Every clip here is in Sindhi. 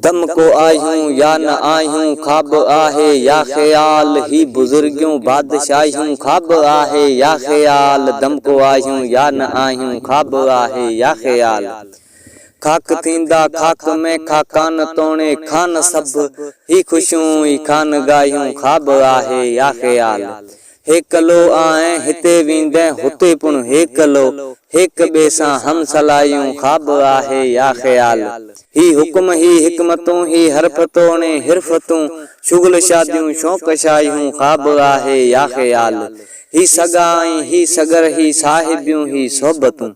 دم ڪو آهيون يا نه آهيون خواب آهي يا خيال هي بزرگيون بادشاهيون خواب آهي يا خيال دم ڪو آهيون يا نه آهيون خواب آهي يا خيال خاڪ ٿيندا خاڪ ۾ خاڪان توڻي خان سڀ هي خوشيون ئي خانگاهيون خواب آهي يا خيال. هيڪلو آهين هتي ويندين هتي پڻ هيڪلو هيڪ ٻئي سان هم صلاحيون خواب آهي يا خيال هي حڪم هي حڪمتون هي حرف توڻي حرفتون شغل شاديون شوق شاهيون خواب آهي يا خيال هي سڳا ۽ هي سڳر هي صاحبيون هي صحبتون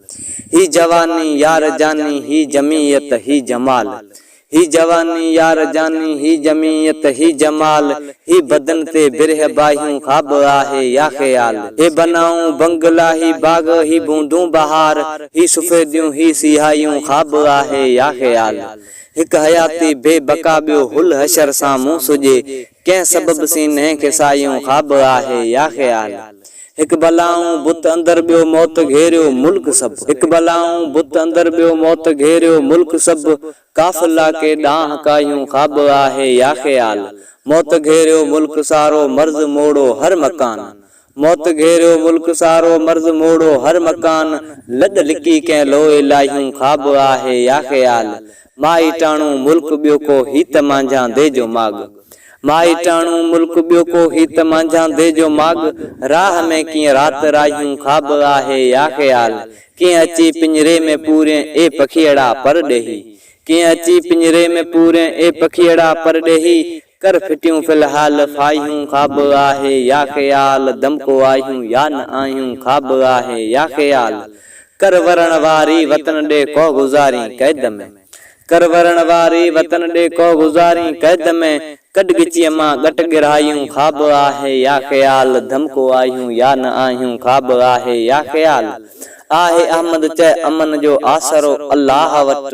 هي جواني يار جاني هي جمعيت هي جمال هي جواني يار جاني هي جمعيت هي جمال هي بدن تي برهه باهيون خواب آهي يا خيال هي بنائون بنگلا هي باغ هي بوندون بهار هي سفيديون هي سياهيون خواب آهي يا خيال هڪ حياتي بي بقا ٻيو هل حشر سان مون سجي ڪنهن سبب سينهن کي ساهيون خواب آهي يا خيال. هڪ بلائون بت اندر ٻيو موت گهيريو ملڪ سڀ هڪ بلائون بت اندر ٻيو موت گهيريو ملڪ سڀ ڪاف لا ڪي ڏانهن ڪاهيون خواب آهي يا خيال موت گهيريو ملڪ سارو مرض موڙو هر مڪان موت گهيريو ملڪ سارو مرض موڙو هر مڪان لڏ لڪي ڪنهن لوء لاهيون خواب آهي يا خيال مائي ٽاڻو ملڪ ٻيو ڪو هيت مانجهان دي جو ماڳ مائي ٽاڻو ملڪ ٻيو ڪو هيت مانجهان دي جو ماڳ راهه ۾ ڪيئن رات راهيون خواب آهي يا خيال ڪيئن اچي پڃري ۾ پورين اي پکيئڙا پرڏيهي ڪيئن اچي پڃري ۾ پورين اي پکيئڙا پرڏيهي ڪر ڦٽيون في الحال ڦاهيون خواب آهي يا خيال دمڪو آهيون يا نه آهيون خواب آهي يا خيال ڪر ورڻ واري وطن ڏي ڪوهه گذارين قيد ۾ ڪر ورڻ واري وطن ڏي ڪوهه گذارين قيد ۾ ڪڍ ڳچيء مان ڳٽ ڳرهايون خواب آهي يا خيال دمڪو آهيون يا نه آهيون خواب آهي يا خيال آهي احمد چئه امن جو آسرو الله وٽ